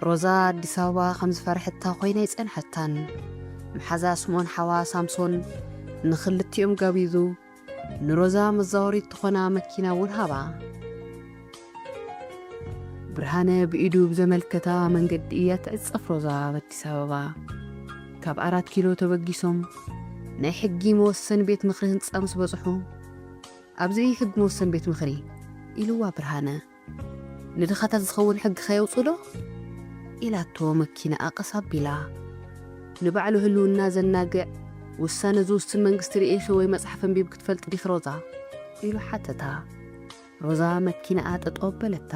ሮዛ ኣዲስ ኣበባ ከም ዝፈርሐታ ኮይና ኣይጸንሐታን። መሓዛ ስምኦን ሓዋ ሳምሶን ንኽልቲኦም ጋቢዙ ንሮዛ መዛወሪት ትኾና መኪና እውን ሃባ። ብርሃነ ብኢዱ ብዘመልከታ መንገዲ እያ ትዕጸፍ ሮዛ ኣብ ኣዲስ ኣበባ። ካብ ኣራት ኪሎ ተበጊሶም ናይ ሕጊ መወሰኒ ቤት ምኽሪ ህንጻ ምስ በጽሑ ኣብዚ ሕጊ መወሰኒ ቤት ምኽሪ ኢልዋ ብርሃነ። ንድኻታት ዝኸውን ሕጊ ከየውጽኡ ዶ? ኢላቶ መኪናኣ ቀስ ኣቢላ። ንባዕሉ ህልውና ዘናግዕ ውሳነ ዝውስን መንግስቲ ርኢኺ ወይ መጽሓፍ ኣንቢብኪ ትፈልጢ ዲኺ ሮዛ? ኢሉ ሓተታ። ሮዛ መኪናኣ ጠጠው ኣበለታ።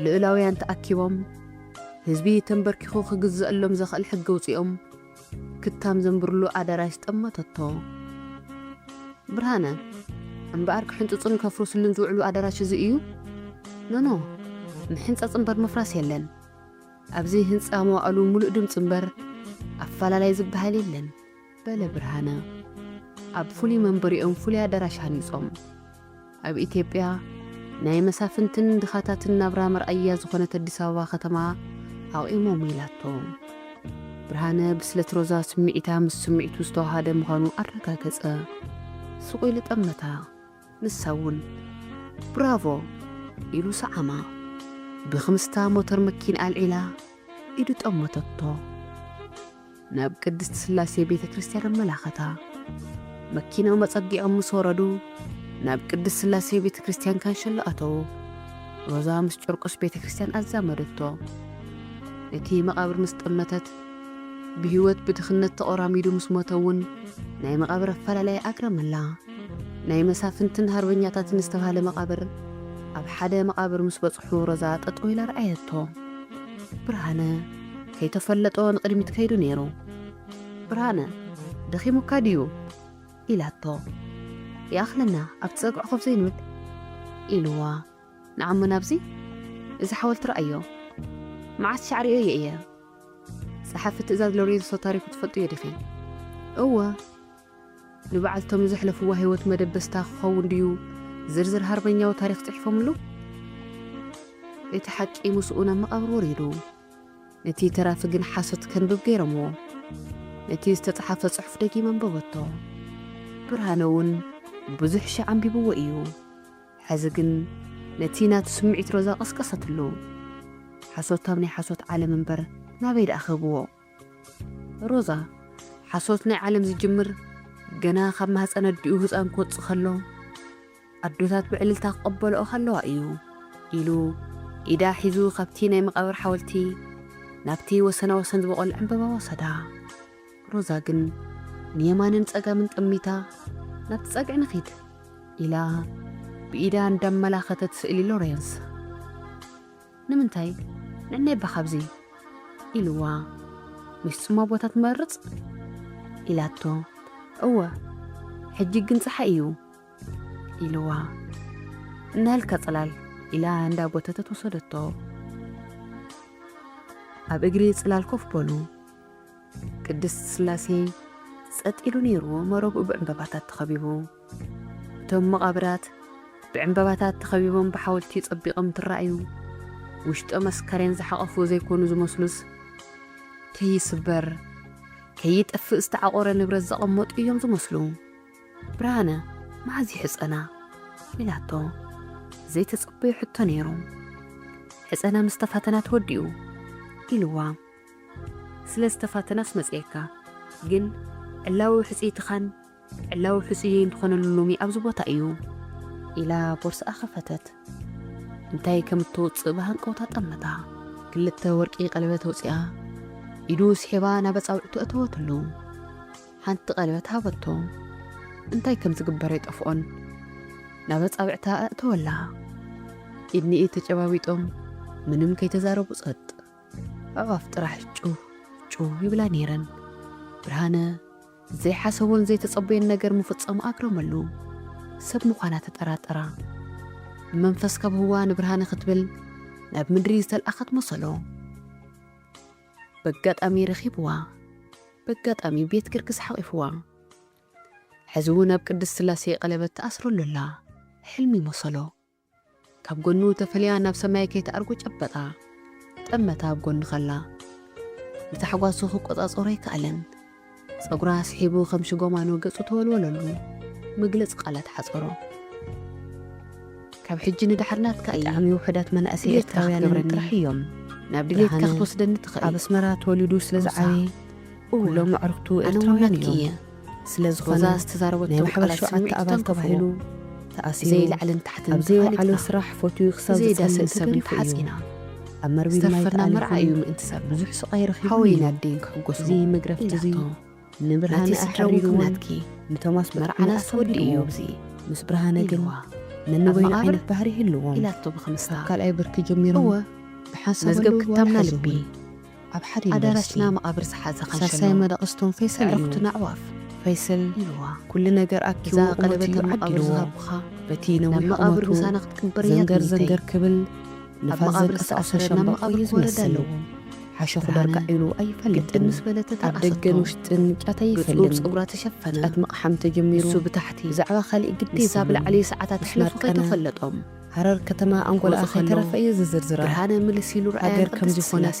ልኡላውያን ተኣኪቦም ህዝቢ ተንበርኪኹ ክግዘኣሎም ዘኽእል ሕጊ ኣውጺኦም። ክታም ዘንብርሉ ኣደራሽ ጠመተቶ። ብርሃነ፣ እምበኣር ክሕንጽጹን ከፍርስሉን ዝውዕሉ ኣደራሽ እዚ እዩ? ኖኖ፣ ምሕንጻጽ እምበር ምፍራስ የለን። ኣብዚ ህንጻ መዋእሉ ምሉእ ድምጺ እምበር ኣፈላላይ ዝበሃል የለን። በለ ብርሃነ። ኣብ ፍሉይ መንበሪኦም ፍሉይ ኣደራሽ ሃኒጾም። ኣብ ኢትዮጵያ ናይ መሳፍንትን ድኻታትን ናብራ መርኣያ ዝኾነት ኣዲስ ኣበባ ከተማ ኣቑሞም ኢላቶ። ብርሃነ ብስለት ሮዛ ስምዒታ ምስ ስምዒቱ ዝተዋሃደ ምዃኑ ኣረጋገጸ። ስቑ ኢሉ ጠመታ። ንሳ እውን ብራቮ ኢሉ ሰዓማ። ብክምስታ ሞተር መኪንኣ ኣልዒላ ኢዱ ጠመተቶ። ናብ ቅድስት ሥላሴ ቤተ ክርስቲያን ኣመላኸታ። መኪናኦም ኣጸጊዖም ምስ ወረዱ ናብ ቅድስት ሥላሴ ቤተ ክርስቲያን ካንሸሎ ኣተዉ። ሮዛ ምስ ጨርቆስ ቤተ ክርስቲያን ኣዛመደቶ። ነቲ መቓብር ምስ ጠመተት ብሕይወት ብድኽነት ተቖራሚዱ ምስ ሞተ እውን ናይ መቓብር ኣፈላላይ ኣግረመላ። ናይ መሳፍንትን ሃርበኛታትን ዝተባህለ መቓብር ኣብ ሓደ መቓብር ምስ በጽሑ ሮዛ ጠጠው ኢላ ረኣየቶ። ብርሃነ። ከይተፈለጦ ንቕድሚት ከይዱ ነይሩ። ብርሃነ፣ ደኺሙካ ድዩ? ኢላቶ። ይኣኽለና፣ ኣብቲ ጸግዑ ኮፍ ዘይንብል? ኢሉዋ። ንዓ'ሞ ናብዚ እዚ ሓወልቲ ረኣዮ። መዓስ ሻዕ ርእየዮ እየ። ጸሓፊ ትእዛዝ ሎሬንሶ ታሪኹ ትፈልጥዮ ዲኺ? እወ። ንበዓልቶም ዘሕለፍዋ ህይወት መደበስታ ክኸውን ድዩ ዝርዝር ሃርበኛዊ ታሪኽ ጽሒፎምሉ? እቲ ሓቂ ምስኡ ናብ መቓብር ወሪዱ። ነቲ ተራፊ ግን ሓሶት ከንብብ ገይሮምዎ። ነቲ ዝተጽሓፈ ጽሑፍ ደጊም ኣንበበቶ። ብርሃነ እውን ብዙሕ ሽሕ ኣንቢብዎ ኢዩ። ሕዚ ግን ነቲ ናቱ ስምዒት ሮዛ ቀስቀሰትሉ። ሓሶት ኣብ ናይ ሓሶት ዓለም እምበር ናበይ ደኣ ክህብዎ? ሮዛ፣ ሓሶት ናይ ዓለም ዝጅምር ገና ካብ ማህጸን ኣዲኡ ህጻን ክወጽእ ከሎ፣ ኣዶታት ብዕልልታ ክቕበልኦ ከለዋ እዩ ኢሉ ኢዳ ሒዙ ካብቲ ናይ መቓብር ሓወልቲ ናብቲ ወሰና ወሰን ዝበቖል ዕምበባ ወሰዳ። ሮዛ ግን ንየማንን ጸጋምን ጠሚታ ናብቲ ጸግዒ ንኺድ ኢላ ብኢዳ እንዳመላኸተት ስእሊ ሎሬንስ ንምንታይ ንዕናይ እባ ካብዚ ኢልዋ ምስ ጽማ ቦታ ትመርጽ ኢላቶ እወ ሕጂ ግን ጸሓይ እዩ ኢልዋ እንሀልከ ጽላል ኢላ እንዳ ጎተተት ወሰደቶ ኣብ እግሪ ጽላል ኮፍ በሉ ቅድስት ስላሴ ጸጥ ኢሉ ነይሩ መረብኡ ብዕምበባታት ተኸቢቡ እቶም መቓብራት ብዕምበባታት ተኸቢቦም ብሓወልቲ ጸቢቖም ትረኣዩ ውሽጦም ኣስካሬን ዝሓቐፉ ዘይኮኑ ዝመስሉስ ከይስበር ከይጠፍእ ዝተዓቖረ ንብረት ዘቐመጡ እዮም ዝመስሉ ብርሃነ መዓዝ ይሕጸና? ኢላቶ። ዘይተጸበዮ ሕቶ ነይሩ። ሕጸና ምስ ተፋተና ተወዲኡ ኢልዋ። ስለ ዝተፋተናስ መጺኤካ፣ ግን ዕላዊ ሕጽይትኻን ዕላዊ ሕጹየይን ትኾነሉ ሎሚ ኣብዚ ቦታ እዩ። ኢላ ቦርስኣ ከፈተት። እንታይ ከም እተውጽእ ብሃንቀውታ ጠመታ። ክልተ ወርቂ ቀለበት ኣውጺኣ ኢዱ ስሒባ ናብ ኣጻብዕቱ ኣእተወትሉ። ሓንቲ ቀለበት ሃበቶ። እንታይ ከም ዝግበር ኣይጠፍኦን። ናብ ኣጻብዕታ ኣእተወላ። ኢድ ንኢድ ተጨባቢጦም ምንም ከይተዛረቡ ጸጥ። ኣዕዋፍ ጥራሕ ጩህ ጩህ ይብላ ነይረን። ብርሃነ ዘይሓሰቦን ዘይተጸበዮን ነገር ምፍጸሙ ኣግረመሉ። ሰብ ምዃና ተጠራጠራ። ብመንፈስ ካብ ህዋ ንብርሃነ ክትብል ናብ ምድሪ ዝተልኣኸት መሰሎ። በጋጣሚ ረኺብዋ በጋጣሚ ቤት ግርግስ ሓቚፍዋ ሕዚ ውን ኣብ ቅድስት ስላሴ ቀለበት ትኣስረሉ ኣላ ሕልሚ መሰሎ ካብ ጎኑ ተፈልያ ናብ ሰማይ ከይትኣርጎ ጨበጣ ጠመታ ኣብ ጎኑ ከላ ንታሕጓሱ ክቆጻጸሮ ኣይከኣለን ጸጉራ ስሒቡ ከም ሽጎማኖ ገጹ ተወልወለሉ። መግለጺ ቃላት ሓጸሮ። ካብ ሕጂ ንደሓር ናትካ እየ። ብጣዕሚ ውሑዳት መናእሰይ ድሌትካ ኤርትራውያን ክትገብረኒ ጥራሕ እዮም። ናብ ድሌትካ ብርሃነ ክትወስደኒ ኣብ ትኽእል። ኣስመራ ተወሊዱ ስለ ሮዛ፣ ዝዓበየ እወ፣ ኩሎም ኣዕሩኽቱ ኣነ እውን ኤርትራውያን ናትኪ እዮም። እየ። ስለ ሮዛ ዝኾነ ናይ ዝተዛረበቶም ማሕበር ቃላት ሸውዓተ ስምዒቱ ኣባል ተንክፉዎ። ተባሂሉ ተኣሲሩ ብዘይ ላዕልን ታሕትን ኣብ ዘይወዓሎ ተፋሊጥና፣ ስራሕ ፈትዩ ክሳብ ብዘይ ዝጸልእ ዳስን ሰብን ተገሪፉ እዩ። ተሓጺና። ኣብ መርቢብ ማይ ዝተፈርና መርዓ ተኣሊኹም እዩ ምእንቲ ሰብ ብዙሕ ስቓይ ረኺቡ ሓወይን እዩ። ኣደይን ክሕጎሱ እዚ መግረፍቲ እዚ ኢላቶ ናተይ ንብርሃነ ስድራ እውን ከም ኣሕሪርዎን ናትኪ ንቶማስ ብጣዕሚ መርዓናስ ወዲ እዩ ኣሳቢድዎ እዚ ምስ ብርሃነ ግን ኢልዋ ኣብ ነንበይኑ መቓብር ዓይነት ባህሪ ይህልዎም ኢላቶ ካብ ብክምስታ ካልኣይ ብርኪ ጀሚሮም እወ ብሓንሳብ መዝገብ ኣለውዋ ክታምና ልቢ ይሓዝውን ኣብ ሓደ ዩኒቨርሲቲ ኣዳራሽና መቓብር ዝሓዘ ሳልሳይ ካንሸሎ መደቐስቶም ፈይሰል እዩ ኣዕሩኽትና ኣዕዋፍ ፈይሰል ኢልዋ ኩሉ ነገር እዛ ኣኪቡ ቁመቱ ቀለበት እዩ ኣብ መቓብር ዓዲልዎ ዝሃብኩኻ በቲ ናብ ነዊሕ መቓብር ቁመቱ ምሳና ክትቅበር እያ ዘንገር ትምኒተይ ዘንገር ክብል ንፋስ ዘንቀሳቕሶ ሻምበቆ እዩ ዝመስል። ሓሸኹ ዳርጋ ዒሉ ኣይፈልጥን። ኣብ ደገን ውሽጥን ጫት ኣይፈልም። ጫት ምቕሓም ተጀሚሩ ብዛዕባ ካሊእ ግዲ ይብሉን። ሃረር ከተማ ኣንጎላኣ ከይተረፈ እየ ዝዝርዝራ። ሃገር ከምዚ ፍላሰ።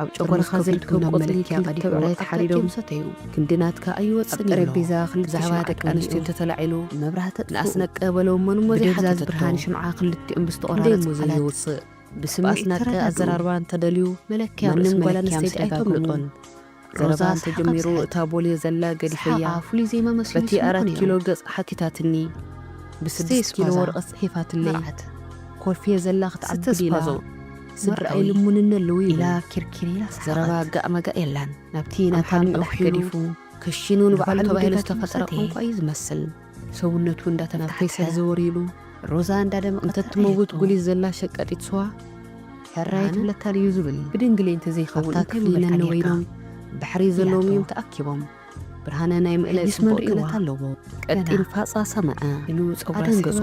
ኣብ ጨጎራኻ ዝርከብ ቆጽሊ ክንዲ ተብዕራይ ተሓሪዶም ሰተዩ። ክንዲ ናትካ ኣይወጽእን እዩ ኣሎ። ኣብ ጠረጴዛ ክልተ ሽምዓ ብዛዕባ ደቂ ኣንስትዮ ተወሊዑ። እንተተላዒሉ መብራህቲ ኣጥፍኡ። ንኣስነቀ በሎ እሞ ንሞዘ ብደብዛዝ ሓተተቶ። ብርሃን ሽምዓ ክልቲኦም እንዴ ብዝተቖራረጸ እሞ ቃላት ዘይውጽእ። ብስምዒት ብኣስናቀ ተረዳድኡ። ኣዘራርባ እንተደልዩ መለክያ ርእሲ መንም ጓል መለክያ ምስ ኣንስተይቲ ደጋገሙ። ኣይተምልጦን። ሮዛ ዘረባ ሰሓቓ እንተጀሚሩ ብስሕት። እታ ቦልየ ዘላ ሰሓቓ ገዲፈያ ፍሉይ ዜማ መስሉ በቲ ይስምዖ ኣራት ነይሩ። ኪሎ ገጻ ሓቲታትኒ። ብስድስት ኪሎ ስቴስፓዛ ወረቐት ጽሒፋትለይ። መርዓት ኮልፌ ዘላ ስተ ክትዓብድ ኢላ። ስፓዞ ስድራኣዊ ስድራኣዊ ልሙንነ ኣለዉ ኢላ ይብል ኪርኪር ኢላ ሰሓቐት። ዘረባ ጋእ መጋእ የላን ናብቲ ኣብ ናታ ሓደ ልዑኽ መቕድሕ ገዲፉ ገዲፉ ክሽኑ ንባዕሉ ንባዕሉ ተባሂሉ ጌታቸው ዝተፈጠረ ሰተየ። ቋንቋ እዩ ዝመስል ሰውነቱ እንዳተናፍሐ ተሓተ። ሰዘወር ኢሉ ሮዛ እንዳደመቐት እንተትመውት ኣየቶ። ጉሊት ዘላ ሸቃጢት ስዋ ሕራይ ኣነ? ትብለካ ድዩ ዝብል ብድንግሌ እንተዘይኸውን ኣብታ እንታይ ክፍሊ ምበልካ ነነወ ነይርካ? ኢሎም ባሕሪ ዘለዎም ኢላቶ። እዮም ተኣኪቦም ብርሃነ ናይ ምእለ ጽቡቕ ክእለት ኣለዎ። ቀጢን ፋጻ ሰመዐ። ኣደንገጾ።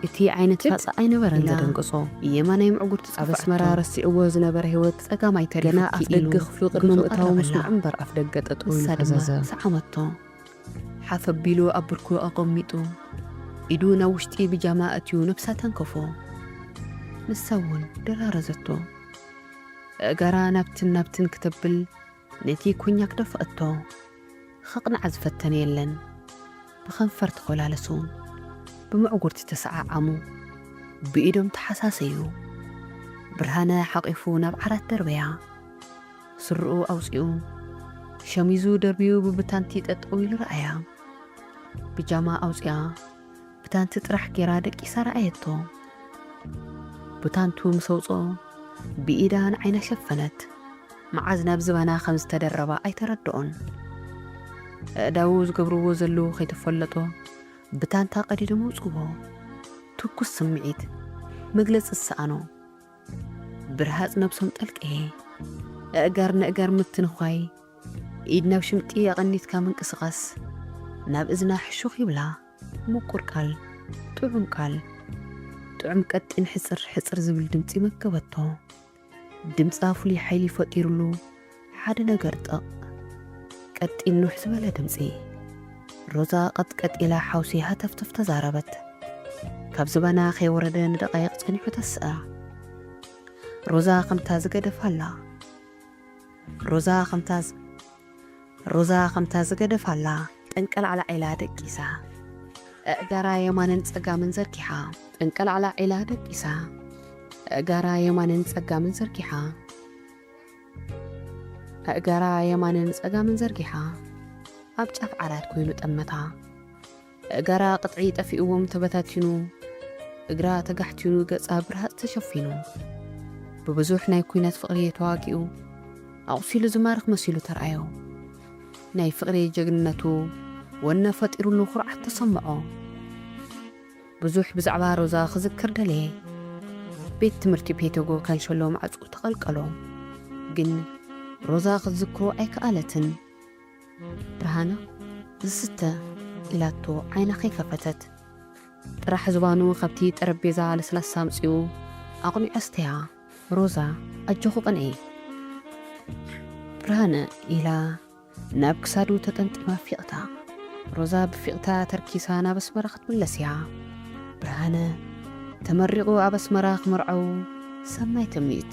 እቲ ዓይነት ፋጻ ኣይነበረን ዘደንገጾ። የማናይ ምዕጉርቲ ጸፋዕቶ። ኣብ ኣስመራ ረሲዕዎ ዝነበረ ህይወት ጸጋማይ ተሪፉኪ ኢሉ ገና ኣፍደገ ክፍሉ ቅድሚ ምእታዉ ምስ መዐምበር ኣፍደገ ጠጠው ኢሉ ፈዘዘ። ንሳ ድማ ሰዓመቶ። ሓፍ ኣቢሉ ኣብ ብርኩ ኣቐሚጡ ኢዱ ናብ ውሽጢ ብጃማ ኣእትዩ ነብሳ ተንከፎ። ንሳ'ውን ደራረዘቶ። ኣእጋራ ናብትን ናብትን ክተብል ነቲ ኮኛክ ዶ ፈእቶ ኸቕንዓ ዝፈተነ የለን። ብኸንፈር ተኾላለሱ። ብምዕጉርቲ ተሰዓዓሙ። ብኢዶም ተሓሳሰዩ። ብርሃነ ሓቚፉ ናብ ዓራት ደርበያ። ስርኡ ኣውጺኡ። ሸሚዙ ደርብዩ ብብታንቲ ጠጠው ኢሉ ረኣያ። ብጃማ ኣውጺኣ ብታንቲ ጥራሕ ጌራ ደቂሳ ረኣየቶ። ብታንቱ ምስ ኣውጽኦ ብኢዳ ንዓይና ሸፈነት። መዓዝ ናብ ዝባና ከም ዝተደረባ ኣይተረድኦን። ኣእዳዉ ዝገብርዎ ዘለዉ ከይተፈለጦ ብታንታ ቀዲዶም ኣውጽዎ። ትኩስ ስምዒት መግለጺ ዝሰኣኖ ብርሃጽ ነብሶም ጠልቀየ። ኣእጋር ነእጋር ምትንዃይ ኢድ ናብ ሽምጢ ኣቐኒትካ ምንቅስቓስ ናብ እዝና ሕሹኽ ይብላ ምቁር ቃል ጥዑም ቃል ጥዑም ቀጢን ሕጽር ሕጽር ዝብል ድምጺ መገበቶ ድምጻ ፍሉይ ሓይሊ ፈጢሩሉ ሓደ ነገር ጠቕ ቀጢን ኑሕ ዝበለ ድምጺ ሮዛ ቀጥቀጥ ኢላ ሓውሲ ሃተፍተፍ ተዛረበት ካብ ዝባና ከይወረደ ንደቓይቕ ጸኒሑ ተስኣ ሮዛ ከምታ ዝገደፋ ኣላ ሮዛ ከምታ ሮዛ ከምታ ዝገደፋላ ጠንቀላዕላዕ ኢላ ደቂሳ ኣእጋራ የማንን ጸጋምን ዘርጊሓ ጠንቀላዕላዕ ኢላ ደቂሳ ኣእጋራ የማንን ጸጋምን ዘርጊሓ ኣእጋራ የማንን ጸጋምን ዘርጊሓ ኣብ ጫፍ ዓራት ኮይኑ ጠመታ። እገራ ቅጥዒ ጠፊእዎም ተበታቲኑ፣ እግራ ተጋሕቲኑ ገጻ ብርሃጽ ተሸፊኑ፣ ብብዙሕ ናይ ኩናት ፍቕርየ ተዋጊኡ፣ ኣቑሲሉ ዝማርኽ መሲሉ ተርኣዮ። ናይ ፍቕርየ ጀግንነቱ ወነ ፈጢሩሉ ኩርዓት ተሰምዖ። ብዙሕ ብዛዕባ ሮዛ ክዝክር ደለየ። ቤት ትምህርቲ ፔቶጎ ካንሸሎ ማዕጽኡ ተቐልቀሎ። ግን ሮዛ ክትዝክሮ ኣይከኣለትን። ብርሃነ ዝስተ ኢላቶ ዓይና ከይከፈተት ጥራሕ ዝባኑ ካብቲ ጠረጴዛ ለስላሳ ኣምጺኡ ኣቕኒዑ ኣስተያ። ሮዛ ኣጆኺ ቅንኢ። ብርሃነ ኢላ ናብ ክሳዱ ተጠምጢማ ፊቕታ። ሮዛ ብፊቕታ ተርኪሳ ናብ ኣስመራ ክትምለስ እያ። ብርሃነ ተመሪቑ ኣብ ኣስመራ ክመርዐው ሰናይ ትምኒት።